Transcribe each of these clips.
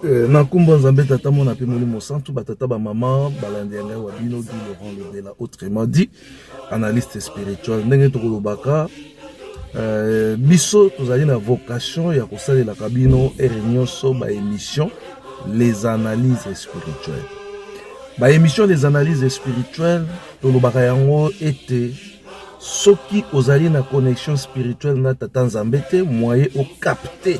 Euh, na nkombo ya nzambe tata mona mpe molimo santu batata bamama balandi ya ngai wa bino du laurent lobela autrement dit analyste spirituel ndenge tokolobaka euh, biso tozali na vocation ya kosalelaka bino ere nyonso baémission les analyses spirituelles baémission les analyses spirituelles tolobaka yango ete soki ozali na connexion spirituelle na tata nzambe te moye okapte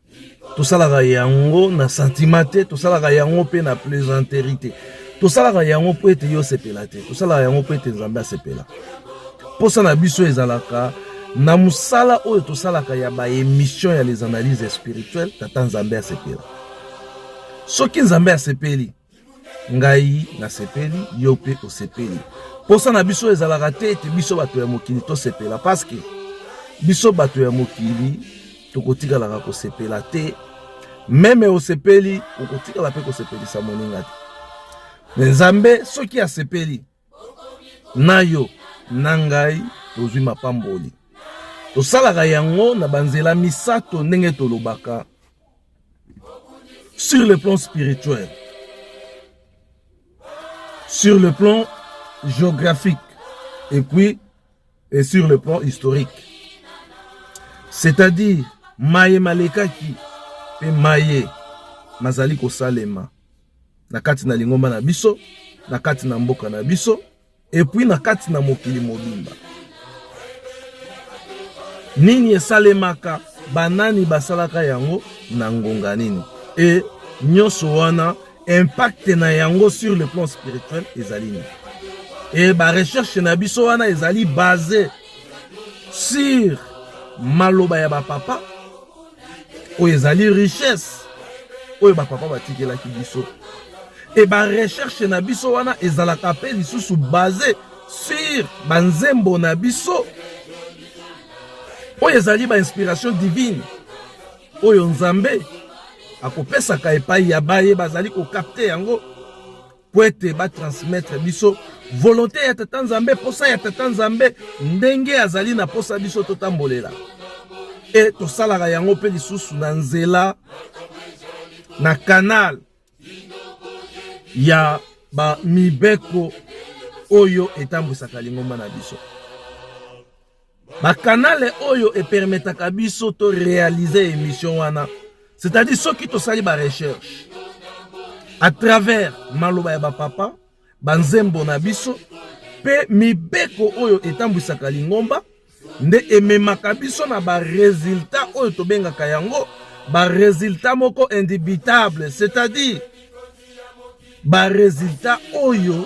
tosalaka yango na sentiment te tosalaka yango mpe na plaisanterie te tosalaka yango mpo ete yo osepela te tosalaka yango mpo ete nzambe asepela mposa na biso ezalaka na mosala oyo tosalaka ya baémission ya les analyses spirituelles tata nzambe asepela soki nzambe asepeli ngai nasepeli yo mpe osepeli mposa na biso ezalaka te ete biso bato ya mokili tosepela paske biso bato ya mokili tokotikalaka kosepela te meme osepeli okotikala mpe kosepelisa moninga te me nzambe soki asepeli na yo na ngai tozwi mapamboli. Tosalaka yango na banzela misato ndenge tolobaka sur le plan spirituel, sur le plan géographique et puis et sur le plan historique. C'est-à-dire maye malekaki mpe maye mazali kosalema. na kati na lingomba na biso, na kati na mboka na biso, epui na kati na mokili mobimba. Nini esalemaka? Banani basalaka yango na ngonga nini? E nyonso wana impact na yango sur le plan spirituel ezali nini? E ba recherche na biso wana ezali base sur maloba ya bapapa oyo ezali richesse oyo bapapa batikelaki biso e barecherche na biso wana ezalaka mpe lisusu base sur banzembo na biso oyo ezali bainspiration divine oyo nzambe akopesaka epai ya baye bazali kokapte yango mpo ete batransmettre biso volonte ya tata nzambe mposa ya tata nzambe ndenge azali na mposa biso totambolela e tosalaka yango mpe lisusu na nzela na kanal ya bamibeko oyo etambwisaka lingomba na biso Ba canal oyo e permetaka biso to realiser emission wana. C'est-à-dire soki tosali ba recherche à travers maloba ya ba papa, ba nzembo na biso pe mibeko oyo etambwisaka lingomba nde ememaka biso na ba resultats oyo tobengaka yango ba resultats moko indubitable, c'est-à-dire ba resultats oyo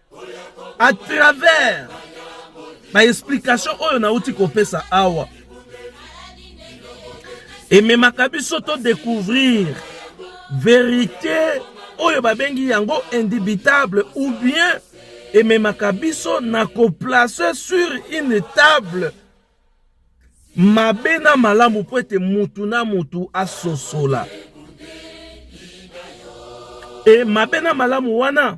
à travers ba explication oyo nauti kopesa awa ememaka biso to découvrir verité oyo babengi yango indubitable ou bien ememaka biso na koplace sur une table mabe na malamu mpo ete mutu na mutu asosola e mabe na malamu wana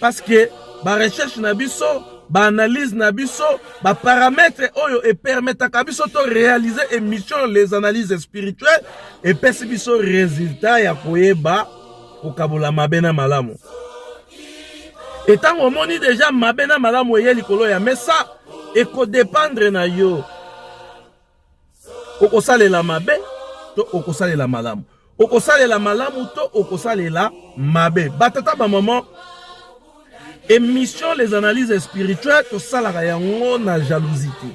Parce que ba recherche na biso, ba analyse na biso, ba parametre oyo e permetaka biso to réaliser émission les analyses spirituelles et pesi biso résultat ya koyeba kokabola mabe na malamu. Et tango omoni déjà mabe na malamu eye likolo ya mesa, eko dépendre na yo. okosalela mabe to okosalela malamu okosalela malamu to okosalela mabe batata bamama émission les analyses spirituelles tosalaka yango na jalousie te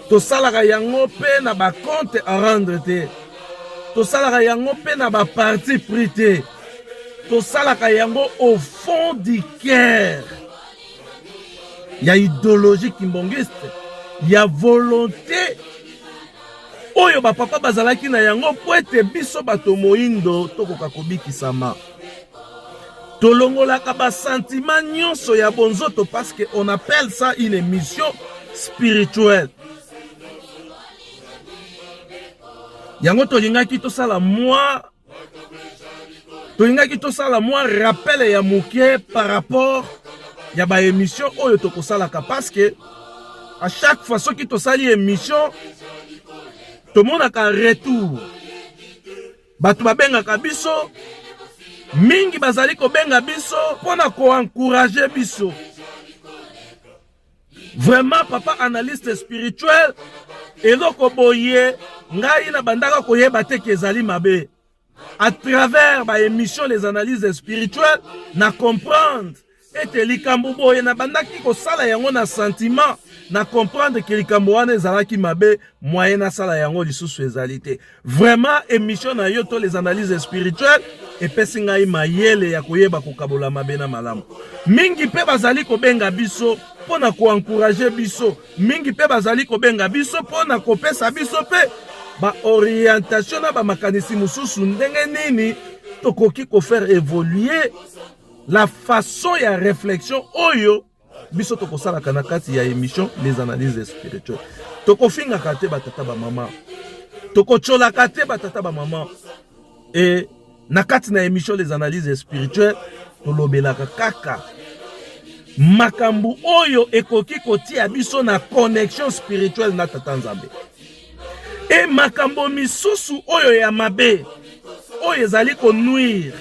tosalaka yango mpe na bacompte à rendre te tosalaka yango mpe na baparti pris te tosalaka yango au fond du cœur ya ideologie kimbongiste ya volonte oyo bapapa bazalaki na yango mpo ete biso bato moindo tokoka kobikisama tolongolaka basantima nyonso ya bonzoto parce que on appelle ça une émission spirituelle yango tolingaki tosala mwa tolingaki tosala mwa rappel ya moke par rapport ya ba émission oyo tokosalaka parce que à chaque fois soki tosali émission tomonaka retour bato babengaka biso mingi bazali kobenga biso mpo na koencourage biso Vraiment papa analyste spirituel eloko boye ngai na bandaka koyeba te kezali mabe à travers ba émission les analyses spirituelles na comprendre ete likambo boye na bandaki kosala yango na sentiment na comprendre ke likambo wana ezalaki mabe moyen nasala yango lisusu ezali te Vraiment emission na yo to les analyses spirituelles epesi ngai mayele ya koyeba kokabola mabe na malamu. Mingi mpe bazali kobenga biso mpo na koankuraje biso, mingi mpe bazali kobenga biso mpo na kopesa biso mpe baorientation na bamakanisi mosusu ndenge nini tokoki kofaire evolue la façon ya reflexion oyo biso tokosalaka na kati ya emission les analyses spirituelles tokofingaka te batata bamama tokotyolaka te batata bamama e na kati na emission les analyses spirituelles tolobelaka kaka makambo oyo ekoki kotia biso na connexion spirituelle na tata nzambe e makambo misusu oyo ya mabe oyo ezali konuire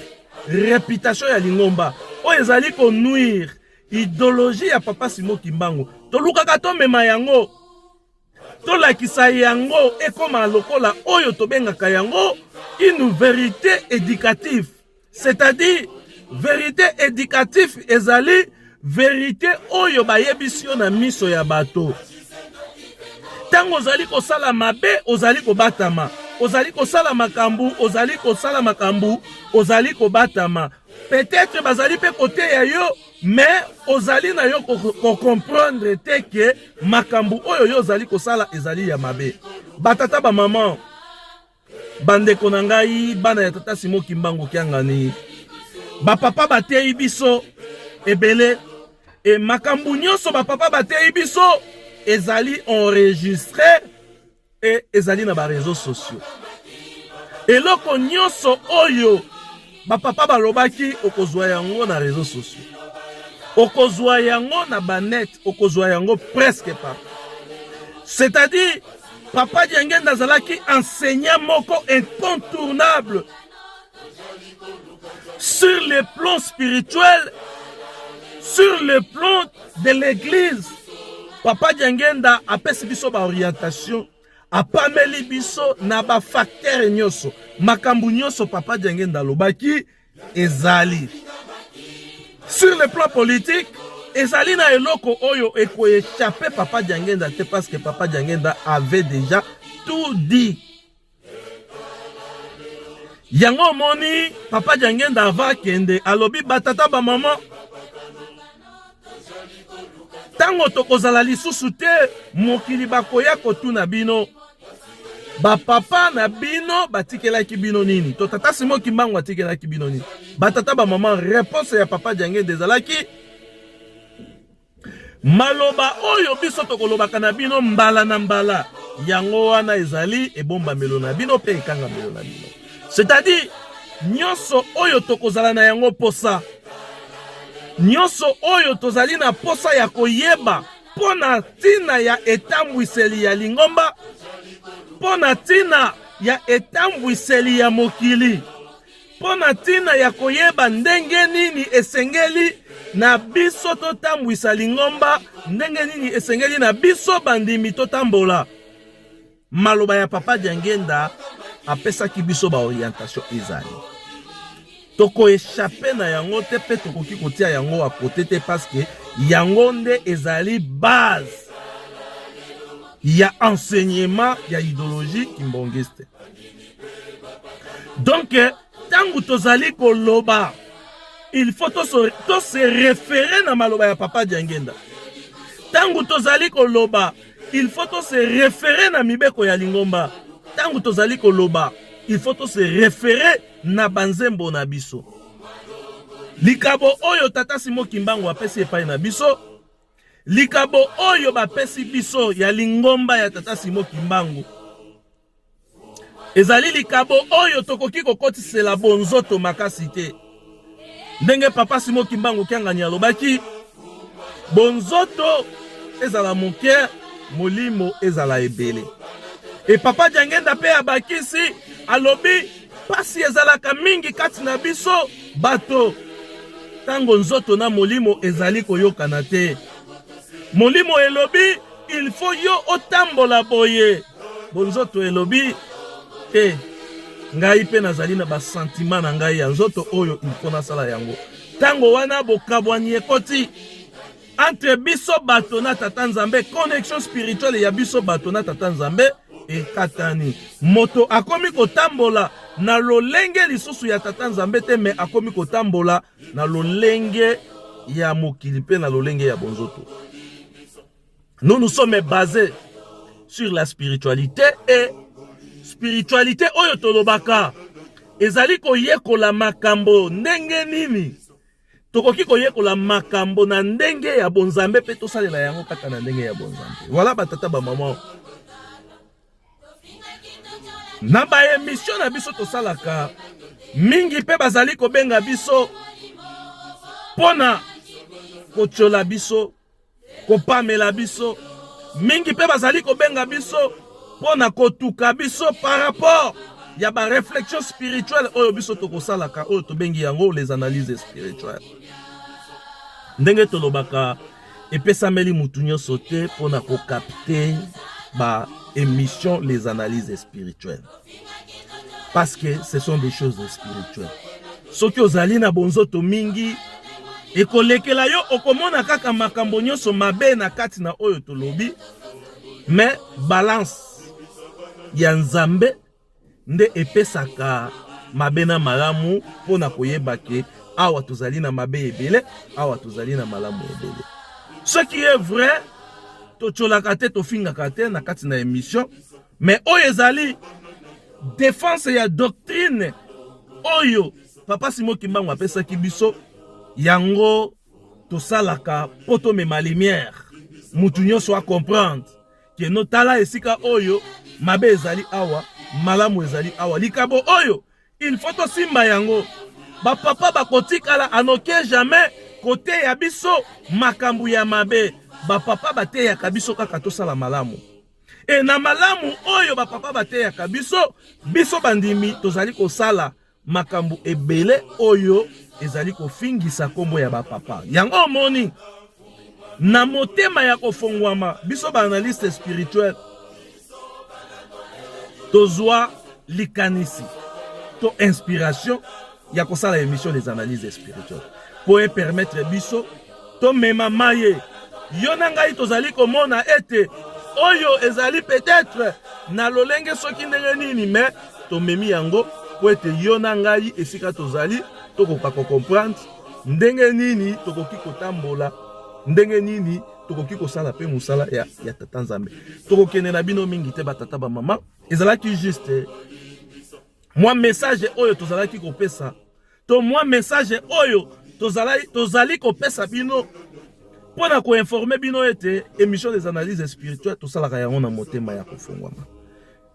reputation ya lingomba oyo ezali ko nuire ideologie ya papa Simon Kimbangu. Tolukaka tomema yango, tolakisa yango ekoma lokola oyo tobengaka yango une verite éducative, c'est-à-dire verite éducative ezali verite oyo bayebisi yo na miso ya bato ntango ozali kosala mabe ozali kobatama ozali kosala makambo ozali kosala makambo ozali kobatama peut-être bazali mpe koteya yo mais ozali na yo kocomprendre te ke makambo oyo yo ozali kosala ezali ya mabe batata bamama Bandeko na ngai, bana ya tata Simon Kimbangu Kiangani, bapapa bateyi biso ebele e makambo nyonso bapapa bateyi biso ezali enregistre e ezali na bareseau sociaux eloko nyonso oyo bapapa balobaki okozwa yango na reseau sociaux okozwa yango na banet okozwa yango presque par c'est-à-dire papa diangenda azalaki enseignant moko incontournable sur le plan spirituel sur le plan de l'église papa diangenda apesi biso baorientation apameli biso na ba facteur nyonso makambo nyonso papa diangenda alobaki ezali sur le plan politique ezali na eloko oyo ekoechape papa diangenda te parce que papa diangenda avait déjà tout dit yango omoni papa diangenda ava akende alobi batata bamama Tango tokozala lisusu te mokili bakoya kotuna bino bapapa na bino batikelaki bino nini to tata simo kimbangu atikelaki bino nini batata bamama reponse ya papa diangende ezalaki maloba oyo biso tokolobaka na bino mbala na mbala yango wana ezali ebombamelo na bino mpe ekangamelo na bino c'est-à-dire nyonso oyo tokozala na yango mposa nyonso oyo tozali na mposa ya koyeba mpo na ntina ya etambwiseli ya lingomba mpo na ntina ya etambwiseli ya mokili mpo na ntina ya koyeba ndenge nini esengeli na biso totambwisa lingomba ndenge nini esengeli na biso bandimi totambola Maloba ya Papa Diangenda apesaki biso ba orientation ezali tokoechape na yango te mpe tokoki kotia yango akote te paske yango nde ezali base ya enseignement ya ideologie kimbongiste donc Tango tozali koloba il faut to se référer na maloba ya papa Diangenda. Tango tozali koloba il faut to se référer na mibeko ya lingomba. Tango tozali koloba il faut to se référer na banzembo na biso. Likabo oyo tata Simo Kimbangu apesi epai na biso likabo oyo bapesi biso ya lingomba ya tata Simo Kimbangu ezali likabo oyo tokoki kokotisela bonzoto makasi te ndenge papa simo kimbangu kiangani alobaki bonzoto ezala moke molimo ezala ebele e papa jangenda mpe abakisi alobi mpasi ezalaka mingi kati na biso bato ntango nzoto na molimo ezali koyokana te molimo elobi Il faut yo otambola boye. Bonzoto elobi te. Ngai mpe nazali na basantima na ngai ya nzoto oyo il faut nasala yango. Ntango wana bokabwani ekoti entre biso bato na tata nzambe connexion spirituelle ya biso bato na tata nzambe ekatani moto akomi kotambola na lolenge lisusu ya tata nzambe te me akomi kotambola na lolenge ya mokili mpe na lolenge ya bonzoto nous nous sommes basés sur la spiritualité et spiritualité oyo tolobaka ezali koyekola makambo ndenge nini tokoki koyekola makambo na ndenge ya bonzambe mpe tosalela yango kaka na ndenge ya bonzambe wala batata bamama na ba emission na biso tosalaka mingi mpe bazali kobenga biso mpo na kotyola biso kopamela biso mingi mpe bazali kobenga biso mpo na kotuka biso par rapport ya ba réflexion spirituelle oyo biso tokosalaka oyo tobengi yango les analyses spirituelles ndenge tolobaka epesameli mutu nyonso te mpo na kokapte ba émission les analyses spirituelles parce que ce sont des choses spirituelles soki ozali na bonzoto mingi ekolekela yo okomona kaka makambo nyonso mabe na kati na oyo tolobi mais balance ya nzambe nde epesaka mabe na malamu mpo na koyeba ke awa tozali na mabe ebele awa tozali na malamu ebele ce qui est vrai totyolaka te tofingaka te na kati na émission mais oyo ezali defense ya doctrine oyo papa simo kimbangu apesaki biso yango tosalaka mpo tomema lumière motu nyonso acomprendre keno tala esika oyo mabe ezali awa malamu ezali awa likambo oyo il faut tosimba yango bapapa bakotikala anoke jamais koteya biso makambo ya mabe bapapa bateyaka biso kaka tosala malamu e na malamu oyo bapapa bateyaka biso biso bandimi tozali kosala makambo ebele oyo ezali kofingisa nkombo ya bapapa yango omoni na motema ya kofongwama biso baanalyste spirituel tozwa likanisi to inspiration ya kosala emission des analyses spirituelles mpo epermettre biso Tomema maye. Yo na ngai tozali komona ete oyo ezali peut-être na lolenge soki ndenge nini, mais tomemi yango mpo ete yo na ngai esika tozali tokoka kocomprendre ndenge nini tokoki kotambola, ndenge nini tokoki kosala mpe mosala ya, ya tata Nzambe. Tokokende na bino mingi te batata bamama, ezalaki juste mwa message oyo tozalaki kopesa to mwa message oyo tozali, tozali kopesa bino mpo na koinforme bino ete émission des analyses spirituelles tosalaka yango na motema ya kofungwama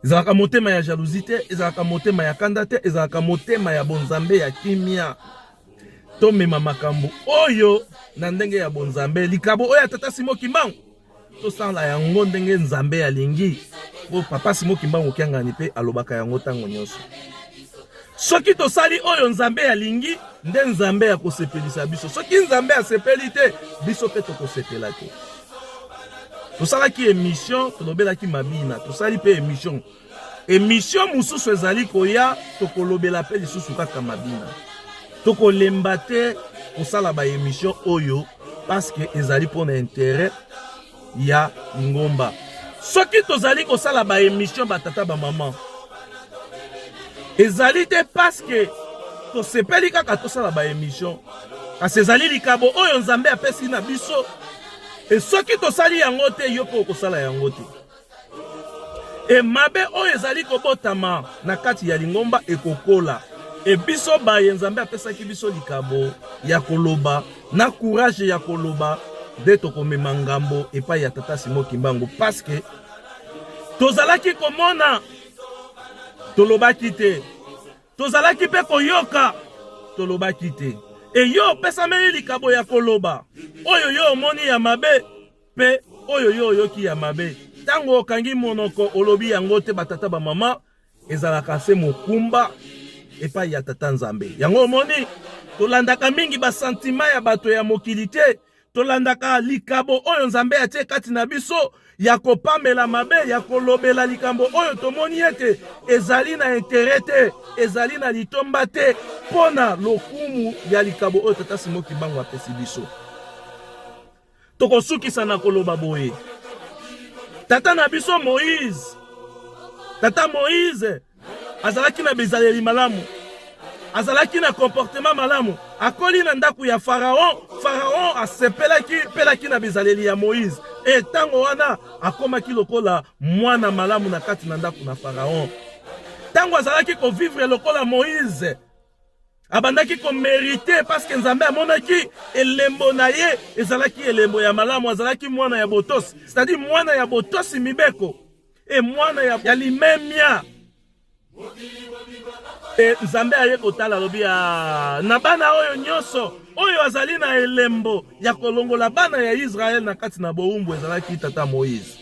ezalaka motema ya jalousie te ezalaka motema ya kanda te ezalaka motema ya bonzambe ya kimia tomema makambo oyo na ndenge ya bonzambe likabo oyo ya tata simo kimbangu tosala yango ndenge nzambe alingi po papa simo kimbangu kiangani mpe alobaka yango ntango nyonso soki tosali oyo nzambe alingi nde nzambe ya kosepelisa biso soki nzambe asepeli te biso mpe tokosepela te tosalaki emission tolobelaki mabina tosali mpe emission emission mosusu ezali koya tokolobela mpe lisusu kaka mabina tokolemba te kosala baemission oyo paske ezali mpo na intere ya lingomba soki tozali kosala baemission batata bamama ezali te paske tosepeli kaka tosala baemission kasi ezali likabo oyo nzambe apesi na biso e soki tosali yango te yo mpe okosala yango te E mabe oyo ezali kobotama na kati ya lingomba ekokola. E biso baye Nzambe apesaki biso likabo ya koloba na courage ya koloba nde tokomema ngambo epai ya Tata Simon Kimbangu paske tozalaki komona tolobaki te, tozalaki mpe koyoka tolobaki te. E yo opesameli likabo ya koloba oyo yo omoni ya mabe Pe oyo yo oyoki ya mabe tango okangi monoko olobi yango te batata ba mama ezalaka se mokumba epai ya tata Nzambe. Yango omoni, tolandaka mingi basantima ya bato ya mokili te, tolandaka likabo oyo Nzambe atie kati na biso ya kopamela mabe, ya kolobela likambo oyo tomoni ete ezali na intere te, ezali na litomba te mpo na lokumu ya likabo oyo Tata Simo Kimbangu apesi biso. Tokosukisa na koloba boye, tata na biso Moïse, tata Moïse azalaki na bizaleli malamu, azalaki na comportement malamu, akoli na ndako ya Faraon. Faraon asepelaki pelaki na bizaleli ya Moïse, e ntango wana akomaki lokola mwana malamu na kati na ndako na Faraon. Ntango azalaki kovivre lokola Moïse abandaki komerite paske nzambe amonaki elembo na ye ezalaki elembo ya malamu azalaki mwana ya botosi cetadire mwana ya botosi mibeko e mwana ya, ya limemia e nzambe aye kotala alobi ah, na bana oyo nyonso oyo azali na elembo ya kolongola bana ya israele na kati na bowumbu ezalaki tata moïse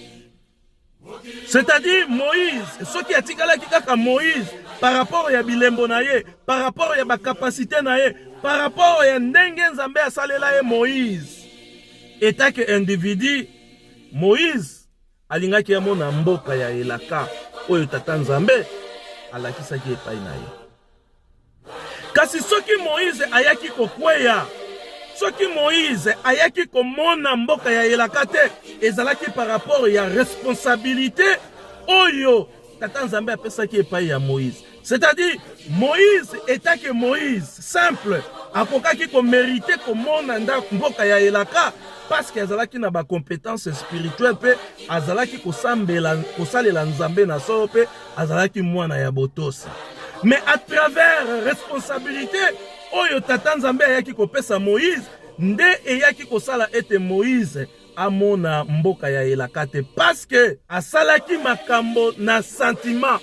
C'est-à-dire Moïse, ce qui a tikalaki kaka Moïse par rapport ya bilembo na ye, par rapport ya ba capacité na ye, par rapport ya ndenge Nzambe asalela ye Moïse. Etat que individu Moïse alingaki amona mboka ya elaka oyo tata Nzambe alakisaki epai na ye. Kasi soki Moize ayaki kokweya, soki Moize ayaki komona mboka ya elaka te, ezalaki par rapport ya responsabilite oyo Tata Nzambe apesaki epai ya Moize. C'est-à-dire, Moïse etant que Moïse, simple, akokaki komerite komona ndako mboka ya elaka parce que azalaki na bacompétence spirituelle mpe azalaki kosalela nzambe na solo mpe azalaki mwana ya botosi mais à travers responsabilité oyo tata nzambe ayaki kopesa moïse nde eyaki kosala ete moïse amona mboka ya elaka te paske asalaki makambo na sentiment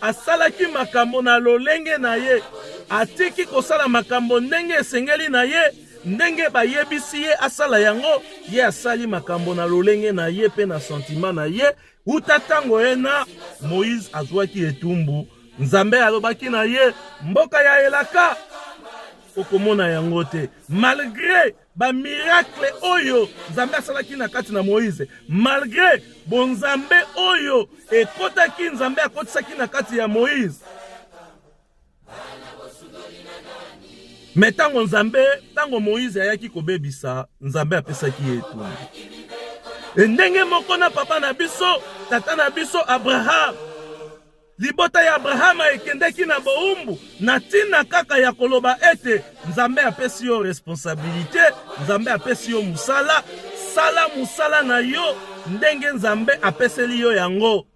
asalaki makambo na lolenge na ye atiki kosala makambo ndenge esengeli na ye ndenge bayebisi ye asala yango ye asali makambo na lolenge na ye mpe na sentima na ye Uta ntango ye na Moïse azwaki etumbu, Nzambe alobaki na ye, mboka ya elaka okomona yango te. Malgre bamirakle oyo Nzambe asalaki na kati na Moïse, malgre bonzambe oyo ekotaki, Nzambe akotisaki na kati ya Moïse, Me ntango Nzambe, ntango Moïse ayaki kobebisa, Nzambe apesaki ye etumbu. E ndenge moko na papa na biso, tata na biso Abraham. Libota ya Abrahama ekendeki na boumbu na ntina kaka ya koloba ete Nzambe apesi yo responsabilite, Nzambe apesi yo mosala, sala mosala na yo ndenge Nzambe apeseli yo yango.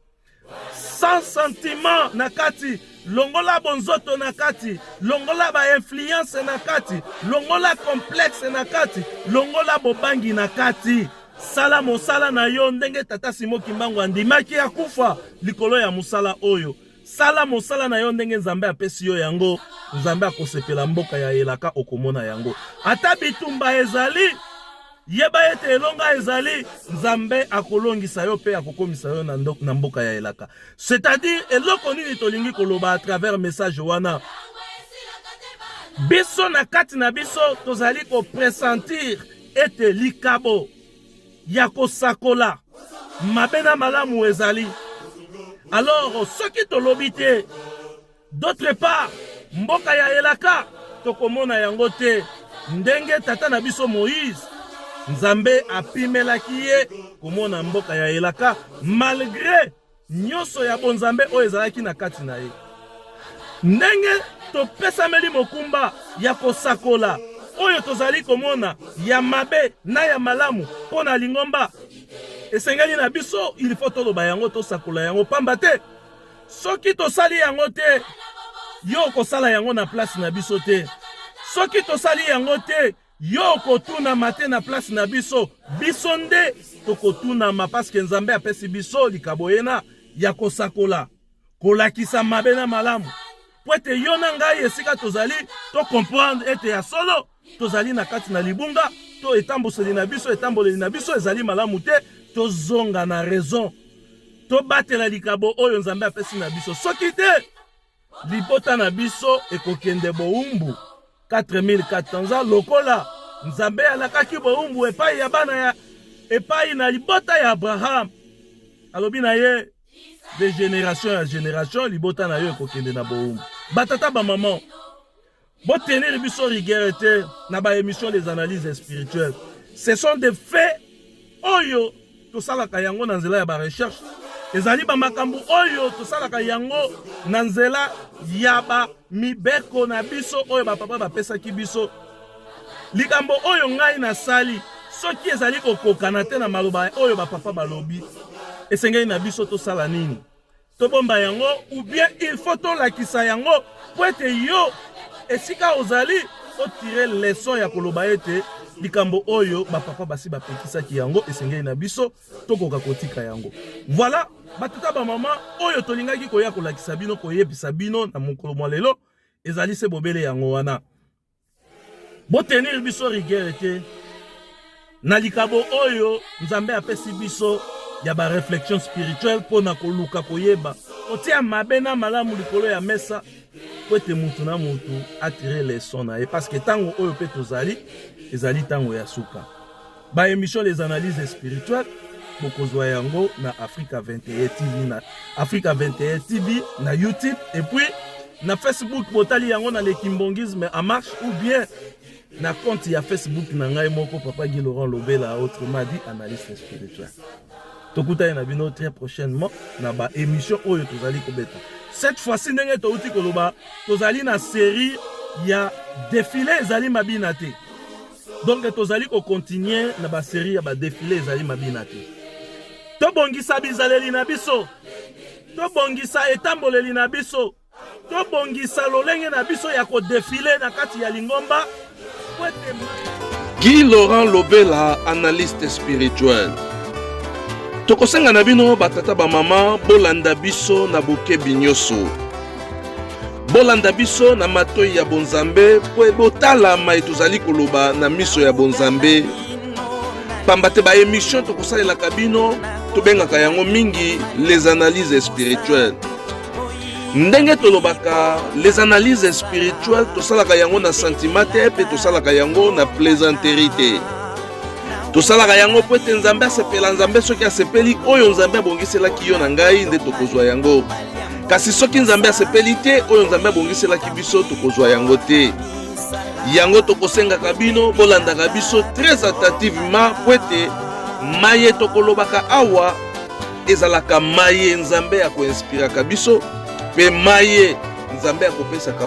sans sentiment na kati longola bonzoto na kati longola bainfluence na kati longola complexe na kati longola bobangi na kati sala mosala na yo ndenge tata simo kimbangu andimaki akufa likolo ya mosala oyo sala mosala na yo ndenge nzambe apesi yo yango nzambe akosepela mboka ya elaka okomona yango ata bitumba ezali Yeba ete elonga ezali, Nzambe akolongisa yo mpe akokomisa yo na mboka ya elaka. C'est-à-dire eloko nini tolingi koloba à travers message wana biso na kati na biso tozali kopresentir ete likabo ya kosakola mabe na malamu ezali alors soki tolobi te D'autre part, mboka ya elaka tokomona yango te ndenge tata na biso Moïse Nzambe apimelaki ye komona mboka ya elaka malgre nyonso ya bonzambe oyo ezalaki na kati na ye. Ndenge topesameli mokumba ya kosakola oyo tozali komona ya mabe na ya malamu mpo na lingomba, esengeli na biso ilifo toloba yango, tosakola yango pamba te Soki tosali yango te, yo okosala yango na place na biso te. Soki tosali yango te, yo okotunama te na place na biso. Biso nde tokotunama paske Nzambe apesi biso likabo ena ya kosakola, kolakisa mabe na malamu, mpo ete yo na ngai esika tozali tokomprendre ete ya solo tozali na kati na libunga to etambuseli na biso etamboleli na biso ezali malamu te tozonga na raison tobatela likabo oyo nzambe apesi na biso soki te libota na biso ekokende bowumbu 4400 ans lokola nzambe alakaki bowumbu epai ya bana ya epai na libota ya abraham alobi na ye de generation ya generation libota na yo ekokende na bowumbu batata bamama Bo tenir biso rigueur te na ba émission des analyses spirituelles. Ce sont des faits oyo tosalaka yango na nzela ya ba recherche. Ezali ba makambo oyo tosalaka yango na nzela ya ba mibeko na biso oyo ba papa bapesaki biso. Likambo oyo ngai nasali soki ezali kokokana te na maloba oyo ba papa balobi, esengeli na biso tosala nini? tobomba yango ou bien il faut tolakisa yango mpo ete yo esika ozali otire leson ya koloba ete likambo oyo bapapa basi bapekisaki yango esengeli na biso tokoka kotika yango voilà batata bamama oyo tolingaki koya kolakisa bino koyebisa bino na mokolo mwa lelo ezali se bobele yango wana Bo tenir biso rigueur te na likabo oyo Nzambe apesi biso ya ba reflexion spirituelle mpo na koluka koyeba kotia mabe na malamu likolo ya mesa mpo ete moto na moto atire leson na ye, parceke ntango oyo mpe tozali ezali ntango ya suka. Ba emission les analyses spirituelles bokozwa yango na Africa 21 TV na Africa 21 TV na YouTube et puis na Facebook botali yango na le kimbongisme en marche ou bien na compte ya Facebook na ngai moko Papa Guy Laurent Lobela autrement dit analyste spirituel. Tokutani na bino très prochainement na ba émission oyo tozali kobeta. Cette fois-ci ndenge touti koloba tozali na série ya défilé ezali mabina te. Donc tozali ko continuer na ba serie ya ba defile ezali mabina te. Tobongisa bizaleli na biso. Tobongisa etamboleli na biso. Tobongisa lolenge na biso ya ko defile na kati ya lingomba. Guy Laurent Lobela, analyste spirituel. Tokosenga na bino batata bamama bolanda biso na bokebi nyonso. bolanda biso na matoi ya bonzambe mpo botala mai tozali koloba na miso ya bonzambe pamba te baemission tokosalelaka bino tobengaka yango mingi les analyses spirituelles ndenge tolobaka les analyses spirituelles tosalaka yango na sentiment te mpe tosalaka yango na plaisanterie te tosalaka yango mpo ete nzambe asepela nzambe soki asepeli oyo nzambe abongiselaki yo na ngai nde tokozwa yango Kasi soki Nzambe asepeli te, oyo Nzambe abongiselaki biso tokozwa yango te. Yango tokosengaka bino bolandaka biso très attentivement mpo ete maye tokolobaka awa ezalaka maye Nzambe akoinspiraka biso mpe maye Nzambe akopesaka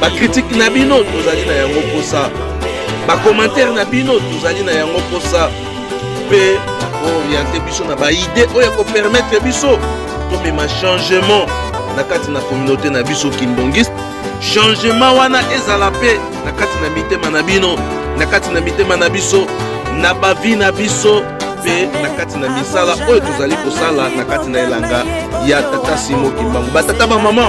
bakritike na bino tozali na yango mposa bakomantere na bino tozali na yango mposa mpe kooriente biso na baide oyo ekopermetre biso tomema changement na kati na kominauté na biso kindongiste changement wana ezala mpe na kati na mitema na bino na kati na mitema na biso na bavi na biso mpe na kati na misala oyo tozali kosala na kati na elanga ya tata simo kimbangu batata bamama